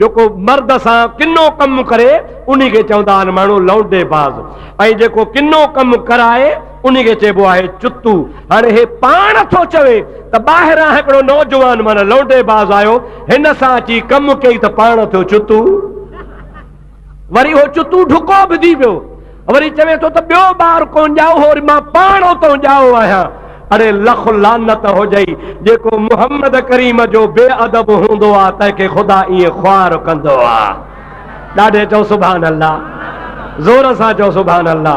جيڪو مرد سان ڪنو ڪم ڪري ان کي چوندا آهن ماڻهو لونڊي باز ۽ جيڪو ڪنو ڪم ڪرائي ان کي چئبو آهي چتو هاڻي هي پاڻ ٿو چوي ته ٻاهران هڪڙو نوجوان مانا لونڊي باز آيو هن سان اچي ڪم ڪئي ته پاڻ ٿيو چتو وري اهو چتو ڍڪو به ٿي پيو. وري چوي ٿو ته ٻيو ٻار ڪونه ڄائو هو وري مان پاڻ اتئون ڄائو آهيان. اڙي لک لعنت هجئي جيڪو محمد ڪريم جو بي ادب هوندو آ تنهن کي خدا ائين خوار ڪندو آ. ڏاڍي چئو سبحان الله زور سان چئو سبحان الله.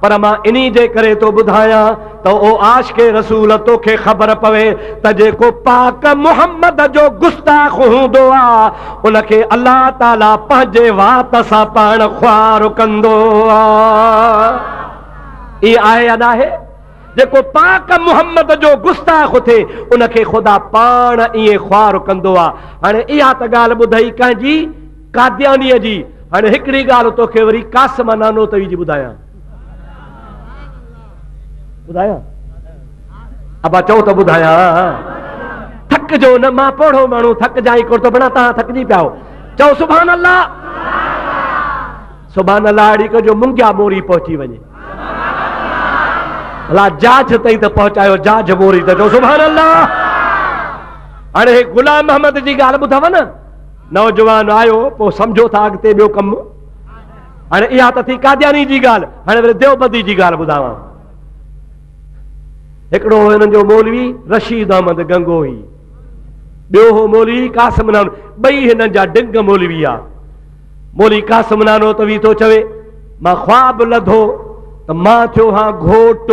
پر مان انهي جي ڪري ٿو ٻڌايان ته او عاشق رسول توکي خبر پوي ته جيڪو پاڪ محمد جو گستاخ هوندو آ ان کي الله تعالي پنهنجي وات سان پاڻ خوار ڪندو آ ائين آهي يا ناهي جيڪو پاڪ محمد جو گستاخ ٿئي ان کي خدا پاڻ ائين خوار ڪندو آ هاڻي اها ته ڳالهه ٻڌئي ڪنهن جي قاديانيء جي، هاڻي هڪڙي ڳالهه توکي وري قاسم نانوتوي جي ٻڌايان. ٻڌايان؟ ابا چئو ته ٻڌايان. ٿڪجو نه مان پوڙهو ماڻهو ٿڪجان ڪونه ٿو بنا تهان ٿڪجي پيا آهو چئو سبحان الله سبحان الله اڙي ڪجو منگيا موري پهچي وڃي الله جاج تائين ته پهچايو جاج موري ته چئو سبحان الله هاڻي غلام محمد جي ڳالهه ٻڌاو نه نوجوان آيو پوء سمجهو ٿا اڳتي ٻيو ڪم هاڻي اها ته ٿي قادياني جي ڳالهه هاڻي وري ديوبندي جي ڳالهه ٻڌاوان هڪڙو هو هنن جو مولوي رشيد احمد گنگوهي ٻيو هو مولوي قاسم نانو ٻئي هنن جا ڊنگ مولوي آ مولوي قاسم نانو ته وي ٿو چوي مان خواب لڌو ته مان ٿيو هان گهوٽ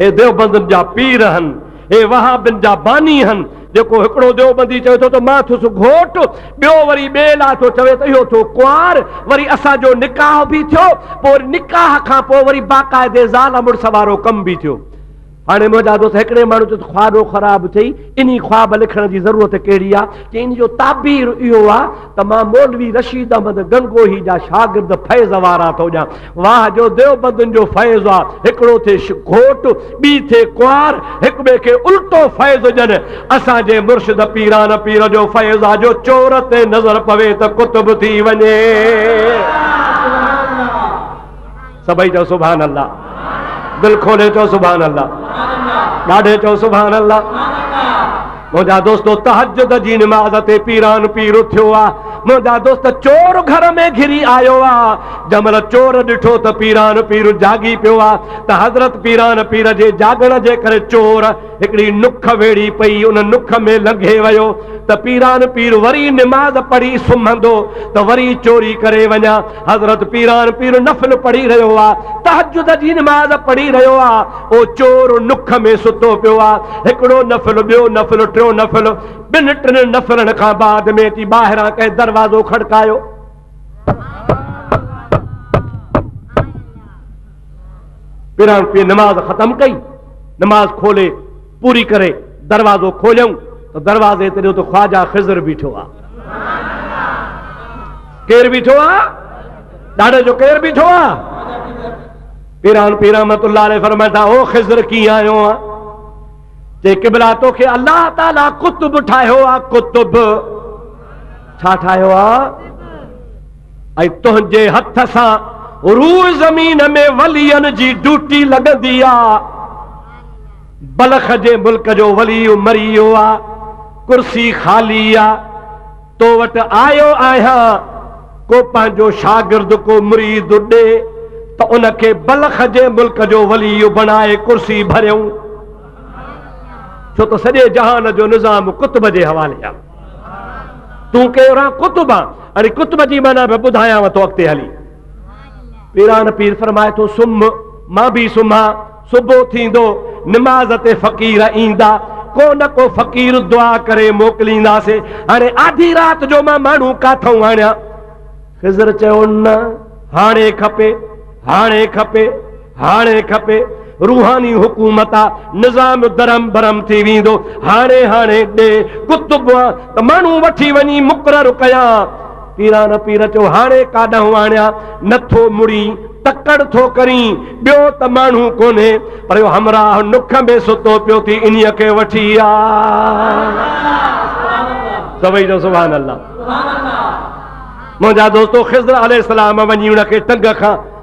هي ديوبندن جا پير هن، هي وهابين جا باني هن، جيڪو هڪڙو ديوبندي چوي ٿو ته مان ٿيس گهوٽ، ٻيو وري ٻئي لاء ٿو چوي ته اهو ٿيو ڪنوار، وري اسان جو نڪاح به ٿيو، پوء وري نڪاح کان پوء وري باقاعدي زال مڙس وارو ڪم به ٿيو. هاڻي منهنجا دوست هڪڙي ماڻهو چيو ته خوابو خراب ٿئي، انهي خواب لکڻ جي ضرورت ڪهڙي آ؟ چئي ان جو تعبير اهو آ ته مان مولوي رشيد احمد گنگوهي جا شاگرد فيض وارا ٿو ڏيان، واهه جو ديوبندن جو فيض آ، هڪڙو ٿئي گهوٽ، ٻي ٿئي ڪنوار، هڪ ٻئي کي الٽو فيض ڏين. اسان جي مرشد پيران پير جو فيض آ جو چور تي نظر پوي ته قطب ٿي وڃي. سڀئي چئو سبحان الله. دل کولي چئو سبحان الله. ڏاڍي چئو سبحان الله. منهنجا دوستو تهجد جي نماز تي پيران پير اٿيو آ منهنجا دوست چور گهر ۾ گهري آيو آ جنهن مهل چور ڏٺو ته پيران پير جاڳي پيو آ ته حضرت پيران پير جي جاڳڻ جي ڪري چور هڪڙي نک ويڙهي پئي ان نک ۾ لنگهي ويو ته پيران پير وري نماز پڙهي سمهندو ته وري چوري ڪري وڃان حضرت پيران پير نفل پڙهي رهيو آ، تهجد جي نماز پڙهي رهيو آ، او چور نک ۾ ستو پيو آ، هڪڙو نفل، ٻيو نفل، ٽيون نفل، ٻن ٽن نفلن کان بعد ۾ اچي ٻاهران ڪنهن دروازو کڙڪايو. پيران پير نماز ختم ڪئي، نماز کولي، پوري ڪري دروازو کوليائون ته دروازي تي ڏيو ته خواجا خضر بيٺو آ. ڪير بيٺو آ؟ ڏاڙهي جو ڪير بيٺو آ؟ پيران پير رحمت الله عليه فرمائن ٿا او خضر ڪيئن آيو آ؟ چي قبلا توکي الله تعالي قطب ٺاهيو آ قطب ڇا ٺاهيو آ؟ ۽ تنهنجي هٿ سان روء زمين ۾ ولين جي ڊوٽي لڳندي آ. بلخ جي ملڪ جو ولي مري ويو آ، ڪرسي خالي آ. تو وٽ آيو آهيان، ڪو پنهنجو شاگرد، ڪو مريد ڏي ته ان کي بلخ جي ملڪ جو ولي بڻائي ڪرسي ڀريون. ڇو ته سڄي جهان جو نظام قطب جي حوالي آ. تون ڪيران قطب آن اري قطب جي معنی به ٻڌايانو ٿو اڳتي هلي پيران پير فرمائي ٿو سم مان به سمها صبح ٿيندو نماز تي فقير ايندا ڪو نه ڪو فقير دعا ڪري موڪلينداسي هاڻي آڌي رات جو مان ماڻهو ڪاٿون آڻيا خضر چيو نه هاڻي کپي هاڻي کپي هاڻي کپي روحاني حڪومت آ نظام درهم برهم ٿي ويندو هاڻي هاڻي ڏي قطب آ ته ماڻهو وٺي وڃي مقرر ڪيان پيران پير چيو هاڻي ڪاڏانهن آڻيان نه ٿو مڙين تڪڙ ٿو ڪرين ٻيو ته ماڻهو ڪونهي پر اهو همراهه نک ۾ ستو پيو ٿي انهي کي وٺي آ سڀئي جو سبحان الله منهنجا دوستو خضر عليه السلام وڃي ان کي ٽنگ کان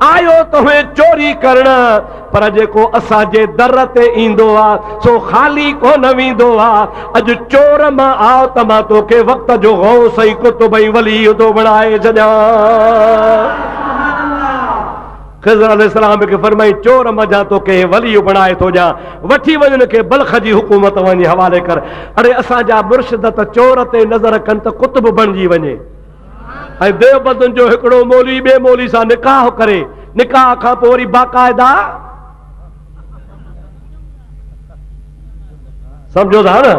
آيو توهين چوري ڪرڻ، پر جيڪو اسان جي در تي ايندو آ، سو خالي ڪونه ويندو آ. اڄ چور مان آء ته مان توکي وقت جو غوث ۽ قطب ۽ ولي ٿو بڻائي ڇڏيان. خضر عليه السلام به کي فرمائي، چور منجهان توکي ولي بڻائي ٿو ڏيان. وٺي وڃ ان کي بلخ جي حڪومت وڃي حوالي ڪر. اڙي اسان جا مرشد ته چور تي نظر ڪن ته قطب بڻجي وڃي. ۽ ديوبندن جو هڪڙو مولوي ٻئي مولوي سان نڪاح ڪري، نڪاح کان پوء وري باقاعده سمجهو ٿا نه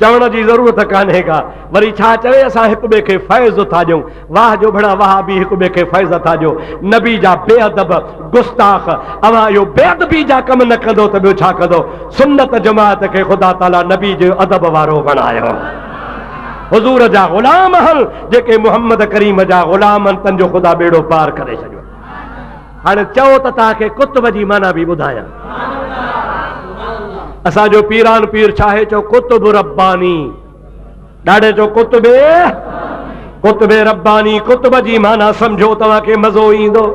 چوڻ جي ضرورت ڪانهي ڪا وري ڇا چوي اسان هڪ ٻئي کي فيض ٿا ڏيون واهه جو ڀڙا واهه به هڪ ٻئي کي فيض ٿا ڏيو نبي جا بي ادب گستاخ اوهان اهو بي ادبي جا ڪم نه ڪندو ته ٻيو ڇا ڪندو سنت جماعت کي خدا تعالي نبي جو ادب وارو بڻايو حضور جا غلام هن جيڪي محمد ڪريم جا غلام هن تن جو خدا ٻيڙو پار ڪري ڇڏيو هاڻي چئو ته توهان کي ڪتب جي معنيٰ به ٻڌايان اسان جو پيران پير ڇاهي چو ڪتب رباني ڏاڙي چو ڪتب ڪتب رباني ڪتب جي معنيٰ سمجھو توهان کي مزو ايندو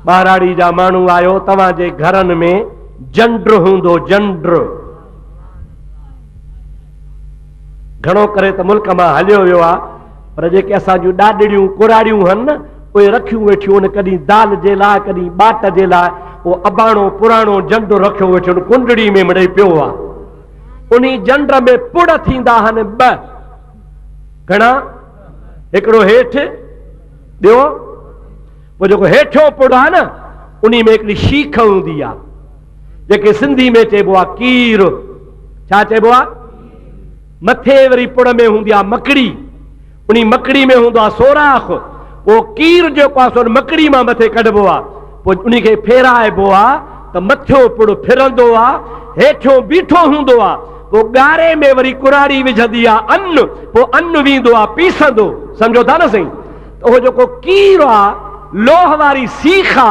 ٻاراڙي جا ماڻهو آيو توهان جي گھرن ۾ جنڊ هوندو جنڊ گهڻو ڪري ته ملڪ مان هليو ويو آ پر جيڪي اسان جون ڏاڏڙيون ڪراڙيون هن نه اهي رکيون ويٺيون هن ڪڏهن دال جي لاء ڪڏهن ٻاٽ جي لاء اهو اباڻو پراڻو جنڊ رکيو ويٺيون هن ڪنڊڙي ۾ مڙئي پيو آ انهي جنڊ ۾ پڙ ٿيندا هن ٻه گهڻا هڪڙو هيٺ ٻيو پوء جيڪو هيٺيون پڙ آ نه انهي ۾ هڪڙي شيخ هوندي آ جيڪي سنڌي ۾ چئبو آ ڪير ڇا چئبو آ مٿي وري پڙ ۾ هوندي آ مڪڙي انهي مڪڙي ۾ هوندو آ سوراخ پو ڪير جيڪو آ سو مڪڙي مان مٿي ڪڍبو آ پو انهي کي ڦيرائبو آ ته مٿيو پڙ ڦرندو آ هيٺيون بيٺو هوندو آ پو ڳاري ۾ وري ڪراڙي وجهندي آ ان پو ان ويندو آ پيسندو سمجهو ٿا نه سائين ته اهو جيڪو ڪير آ لوهه واري سيخ آ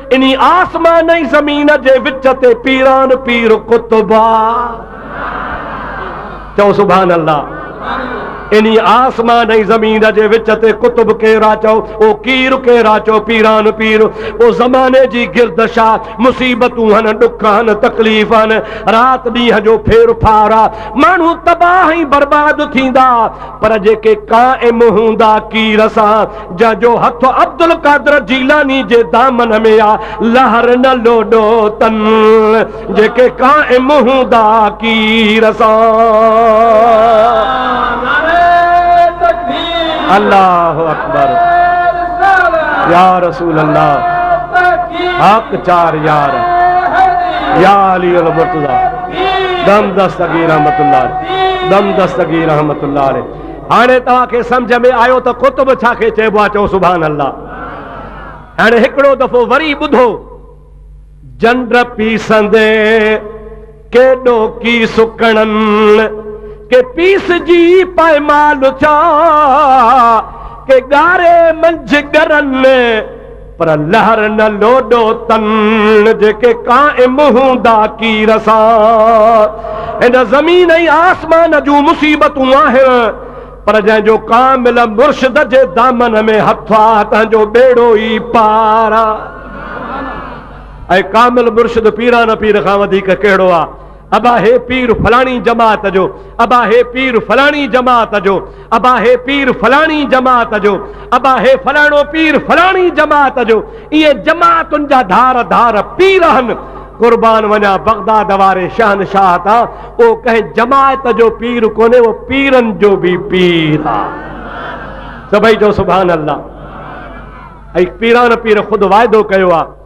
انهي آسمان ۽ زمين جي وچ تي پيران پير قطب آ. چئو سبحان الله. انهي آسمان ۽ زمين جي وچ تي قطب ڪير آ چئو او ڪير ڪير آ چئو پيران پير او زماني جي گردش آ مصيبتون هن ڏک هن تڪليف هن رات ڏينهن جو ڦير ڦار آ ماڻهو تباهه ۽ برباد ٿيندا پر جيڪي قائم هوندا ڪير سان جنهن جو هٿ عبدالقادر جيلاني جي دامن ۾ آ، لهر نه لوڏو تن، جيڪي قائم هوندا ڪير سان. الله اڪبر يا رسول الله حق چار يار يا علي المرتضى دم دستگير رحمت الله دم دستگير رحمت الله عليه هاڻي توهان کي سمجهه ۾ آيو ته قطب ڇا کي چئبو آهي چئو سبحان الله هاڻي هڪڙو دفعو وري ٻڌو جنڊ پيسندي ڪيڏو ڪي سڪڻن ڪي پيس جي پائمال چا ڪي ڳاري منجهه ڳرن پر لهر نه لوڏو تن، جيڪي قائم هوندا ڪير سان. هن زمين ۽ آسمان جون مصيبتون آهن، پر جنهن جو ڪامل مرشد جي دامن ۾ هٿ آ، تنهن جو ٻيڙو ئي پار آ. ۽ ڪامل مرشد پيران پير کان وڌيڪ ڪهڙو آ؟ ابا هي پير فلاڻي جماعت جو ابا هي پير فلاڻي جماعت جو ابا هي پير فلاڻي جماعت جو ابا هي فلاڻو پير فلاڻي جماعت جو اهي جماعتن جا ڌار ڌار پير آهن قربان وڃا بغداد واري شهنشاهه تان اهو ڪنهن جماعت جو پير ڪونهي اهو پيرن جو به پير آهي سڀئي جو سبحان الله ۽ پيران پير خود واعدو ڪيو آهي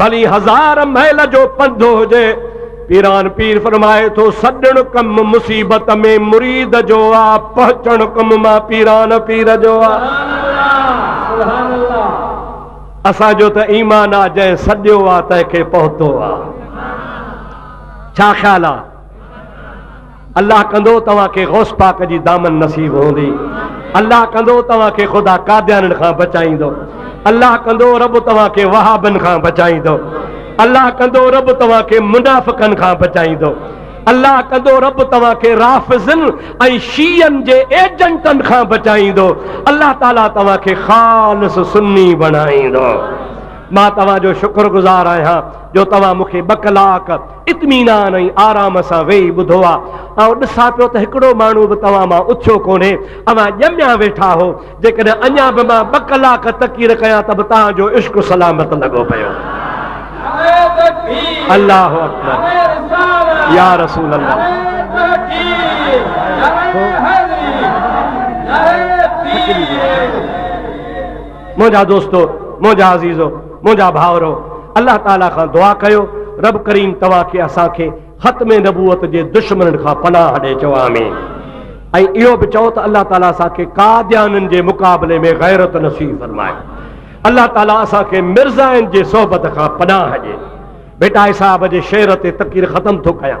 ڀلي هزار ميل جو پنڌ هجي. پيران پير فرمائي ٿو، سڏڻ ڪم مصيبت ۾ مريد جو آ، پهچڻ ڪم مان پيران پير جو آ. اسان جو ته ايمان آ، جنهن سڏيو آ، تنهن کي پهتو آ. ڇا خيال آ؟ الله ڪندو توهان کي غوث پاڪ جي دامن نصيب هوندي الله ڪندو توهان کي خدا قاديانن کان بچائيندو الله ڪندو رب توهان کي وهابن کان بچائيندو الله ڪندو رب توهان کي منافقن کان بچائيندو الله ڪندو رب توهان کي رافضن ۽ شيعن جي ايجنٽن کان بچائيندو الله تعالي توهان کي خالص سني بڻائيندو مان توهان جو شڪر گذار آهيان جو توهان مونکي ٻه ڪلاڪ اطمينان ۽ آرام سان ويهي ٻڌو آ. آئون ڏسان پيو ته هڪڙو ماڻهو به توهان مان اٿيو ڪونهي. اوهان ڄميا ويٺا هو. جيڪڏهن اڃا به مان ٻه ڪلاڪ تقرير ڪيان ته به توهان جو عشق سلامت لڳو پيو. الله اڪبر يا رسول الله. منهنجا دوستو! منهنجا عزيزو! منهنجا ڀائرو! الله تعاليٰ کان دعا ڪيو، رب ڪريم توهان کي اسان کي ختم نبوت جي دشمنن کان پناهه ڏئي چئو آمين ۽ اهو به چئو ته الله تعاليٰ اسان کي قاديانين جي مقابلي ۾ غيرت نصيب فرمائي. الله تعاليٰ اسان کي مرزائن جي صحبت کان پناهه ڏئي. ڀٽائي صاحب جي شعر تي تقرير ختم ٿو ڪيان.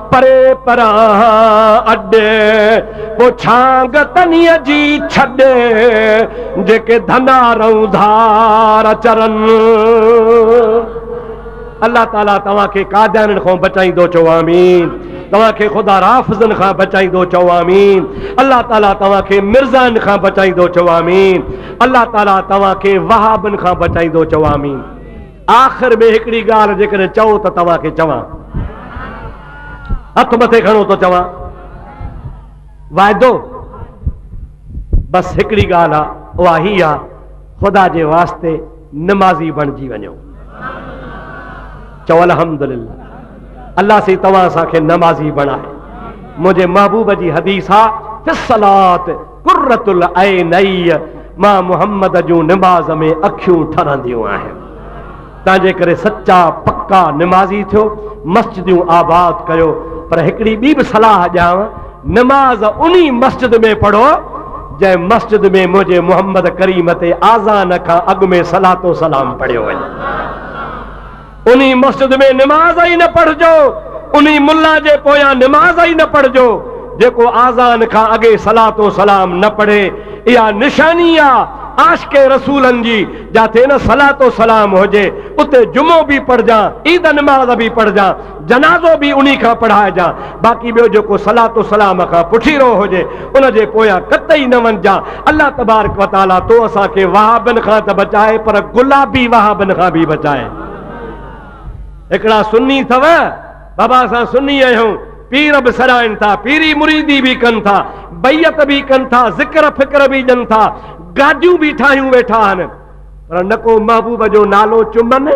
پري پران اڏ، پوء ڇانگ تنيء جي ڇڏ، جيڪي ڌنا رئون ڌار چرن. الله تعاليٰ توهان کي قاديانين کان بچائيندو چئو آمين توهان کي خدا رافضن کان بچائيندو چئو آمين الله تعاليٰ توهان کي مرزائن کان بچائيندو چئو آمين الله تعاليٰ توهان کي وهابن کان بچائيندو چئو آمين آخر ۾ هڪڙي ڳالهه جيڪڏهن چئو ته توهان کي چوان. هٿ مٿي کڻو ٿو چوان. واعدو بس هڪڙي ڳالهه آ اها هي آ خدا جي واسطي نمازي بڻجي وڃو. چئو الحمدلله الله سي توهان اسان کي نمازي بڻائي. منهنجي محبوب جي حديث آ في الصلات قرة العيني مان محمد جون نماز ۾ اکيون ٺرنديون آهن تنهنجي ڪري سچا پڪا نمازي ٿيو مسجدون آباد ڪيو پر هڪڙي ٻي به صلاح ڏيانو نماز انهي مسجد ۾ پڙهو جنهن مسجد ۾ منهنجي محمد ڪريم تي آزان کان اڳ ۾ صلات و سلام پڙهيو وڃي انهي مسجد ۾ نماز ئي نه پڙهجو، انهي ملا جي پويان نماز ئي نه پڙهجو، جيڪو آذان کان اڳي صلات و سلام نه پڙهي، اها نشاني آ عاشق رسولن جي، جاتي نه صلات و سلام هجي، اتي جمعو به پڙهجان، عيد نماز به پڙهجان، جنازو به انهي کان پڙهائجان، باقي ٻيو جيڪو صلات و سلام کان پٺيرو هجي، ان جي پويان قطعي نه وڃجان. الله تبارڪ و تعاليٰ تو اسان کي وهابين کان ته بچائي پر گلابي وهابين کان به بچائي. هڪڙا سني اٿو بابا اسان سني آهيون پير به سڏائن ٿا پيري مريدي به ڪن ٿا بيعت به ڪن ٿا ذڪر فڪر به ڏين ٿا گاڏيون به ٺاهيون ويٺا آهن پر نه ڪو محبوب جو نالو چمن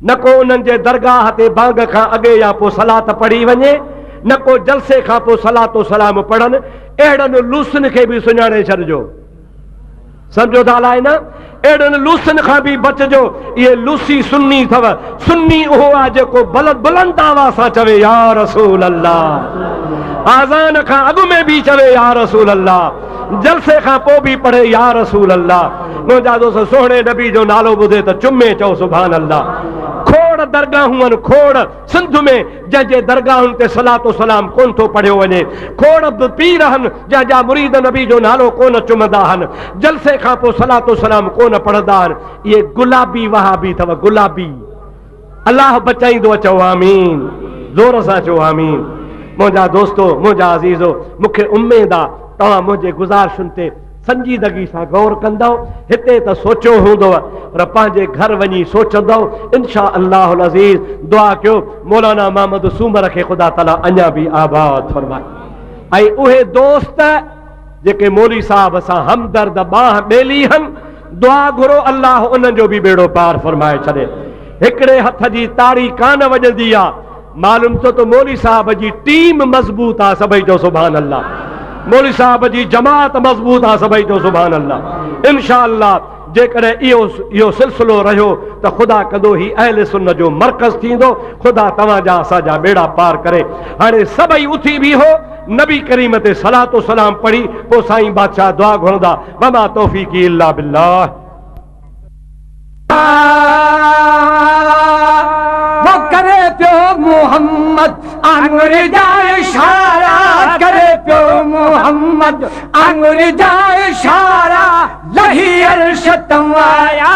نه ڪو انهن جي درگاهه تي بانگ کان اڳي يا پوء صلات پڙهي وڃي، نه ڪو جلسي کان پوء صلات و سلام پڙهن، اهڙن لوسن کي به سڃاڻي ڇڏجو. سمجهو ٿا الائي نه؟ اهڙن لوسن کان به بچجو، اهي لوسي سني اٿو، سني اهو آهي جيڪو بلند آواز سان چوي يا رسول الله، آذان کان اڳ ۾ به چوي يا رسول الله، جلسي کان پوء به پڙهي يا رسول الله منهنجا دوست سهڻي نبي جو نالو ٻڌي ته چمي چئو سبحان الله کوڙ درگاهون آهن کوڙ سنڌ ۾ جنهن جي درگاهن تي صلات و سلام ڪون ٿو پڙهيو وڃي کوڙ به پير آهن جنهن جا مريد نبي جو نالو ڪون چمندا آهن جلسي کان پوء صلات و سلام ڪون پڙهندا آهن اهي گلابي وهابي اٿو گلابي الله بچائيندو اچئو آمين زور سان چئو آمين منهنجا دوستو منهنجا عزيزو مونکي اميد آ توهان منهنجي گزارشن تي سنجيدگي سان غور ڪندو هتي ته سوچيو هوندو پر پنهنجي گهر وڃي سوچندو انشاء الله العزيز دعا ڪيو مولانا محمد سومر کي خدا تعالي اڃا به آباد فرمائي اهي دوست جيڪي مولي صاحب سان همدرد بانهه ٻيلي هن دعا گهرو الله انهن جو به ٻيڙو پار فرمائي ڇڏي. هڪڙي هٿ جي تاڙي ڪانه وڄندي آ. معلوم ٿيو ته مولوي صاحب جي ٽيم مضبوط آ سڀئي چئو سبحان الله. مولوي صاحب جي جماعت مضبوط آ سڀئي چئو سبحان الله. انشاء الله جيڪڏهن اهو اهو سلسلو رهيو ته خدا ڪندو هي اهل سنت جو مرڪز ٿيندو. خدا توهان جا اسان جا ٻيڙا پار ڪري. هاڻي سڀئي اٿي بيهو نبي ڪريم تي صلات و سلام پڙهي پوء سائين بادشاهه دعا گهرندا. وما توفيقي الا بالله. هو ڪري پيو محمد آڱر جا اشارا ڪري پيو محمد آڱر جا اشارا لهي عرش تان آيا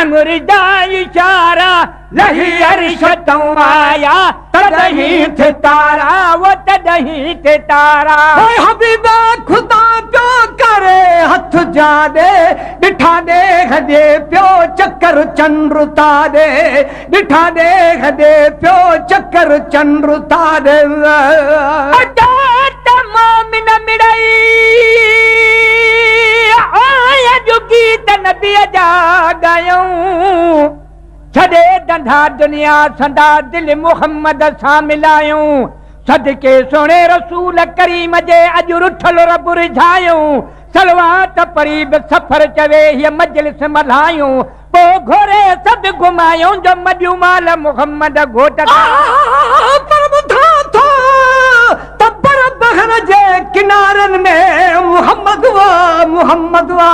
امر جا اشارا لهي عرش تئون آيا تڏهين ٿي تارا و تڏهين ٿي تارا حبيب خدا پيو ڪري هٿ جا ڏي ڏٺا ڏيھ ڏي پيو چڪر چنڊ تاري ڏٺا ڏيھ ڏي پيو چڪر چنڊ تارن. اچاٽ مومن مڙئي آهه جو گيت نبيء جا ڳايون. ڇڏي ڌنڌا دنيا سندا دل محمد سان ملايون. صدقي سهڻي رسول ڪريم جي اڄ رٺل رب رجھايون. صلوات پڙهي به سفر چوي هيء مجلس ملهايون. پوء گهوري سڏ گهمايون جو مڏيون مال محمد گهوٽ کان. پر ٻڌان ٿو ته بر بحر جي ڪنارن ۾ محمد وا محمد وا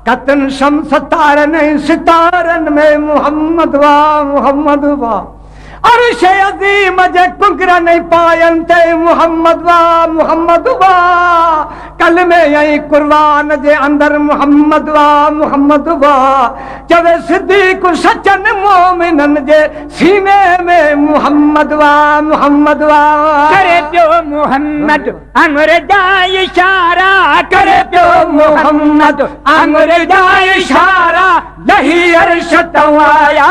قطن شمس تارن ۽ ستارن ۾ محمد وا محمد وا. عرش عظيم جي ڪنگرن ۽ پاين تي محمد وا محمد وا ڪلمي ۽ قرآن جي اندر محمد وا محمد وا چوي صديق سچن مؤمنن جي سيني ۾ محمد وا محمد وا ڪري پيو محمد امر جا اشارا ڪري پيو محمد امر جا اشارا لهي عرش تون آيا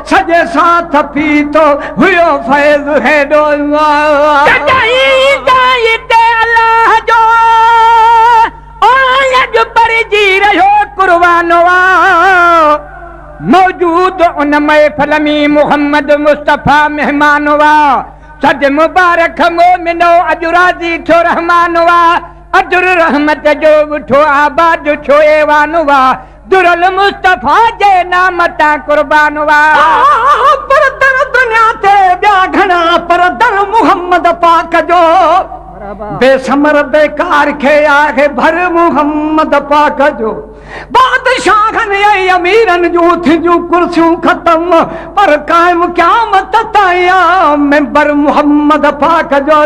سڄي ساٿ پيتو هيو فيض هيڏو ڪڏهن ايندين هتي الله جو آئين اڄ پرهجي رهيو قربان آ موجود ان محفل مين محمد مصطفي مهمان آ سڏ مبارڪ مومنو اڄ راضي ٿيو رحمان آ اجر رحمت جو وٺو آباد ٿيو ايوان آ. در المصطفيٰ جي نام تان قربان وا. آه پر در دنيا تي ٻيا گهڻا پر در محمد پاڪ جو بي ثمر بيڪار کي آهه ڀر محمد پاڪ جو بادشاهن ۽ اميرن جون ٿينديون ڪرسيون ختم پر قائم قيامت تائين آ ممبر محمد پاڪ جو.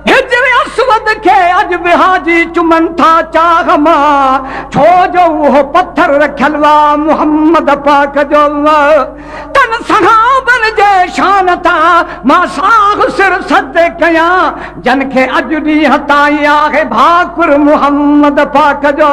هجر اسود کي اڄ به حاجي چمن ٿا چاغ مان، ڇو جو اهو پٿر رکيل هئا محمد پاڪ جو. تن صحابن جي شان تان مان ساهه سر سجدي ڪيان، جن کي اڄ ڏينهن تائين آهي ڀاڪر محمد پاڪ جو.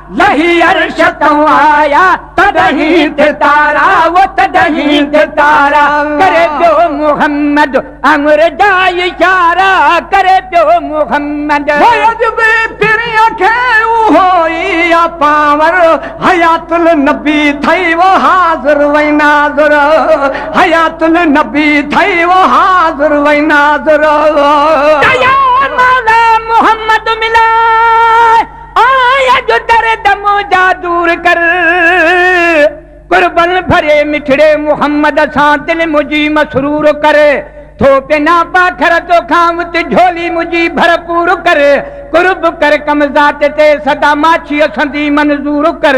لهي عرش تان آيا تڏهين تي تارا و تڏهين تي تارا ڪري پيو محمد امر جا اشارا ڪري پيو محمد فيض بي پرينء کي اهو ئي آ پاور حيات النبي ٿئي و حاضر و ناظر حيات النبي ٿئي و حاضر و ناظر. ڪيا مولا محمد ملان. آهه اڄ درد منهنجا دور ڪر. قربن ڀري مٺڙي محمد سان دل منهنجي مسرور ڪر. ٿو پينا پاکر توکان وت جهولي منهنجي ڀرپور ڪر. قرب ڪر ڪم ذات تي سدا ماڇي اسندي منظور ڪر.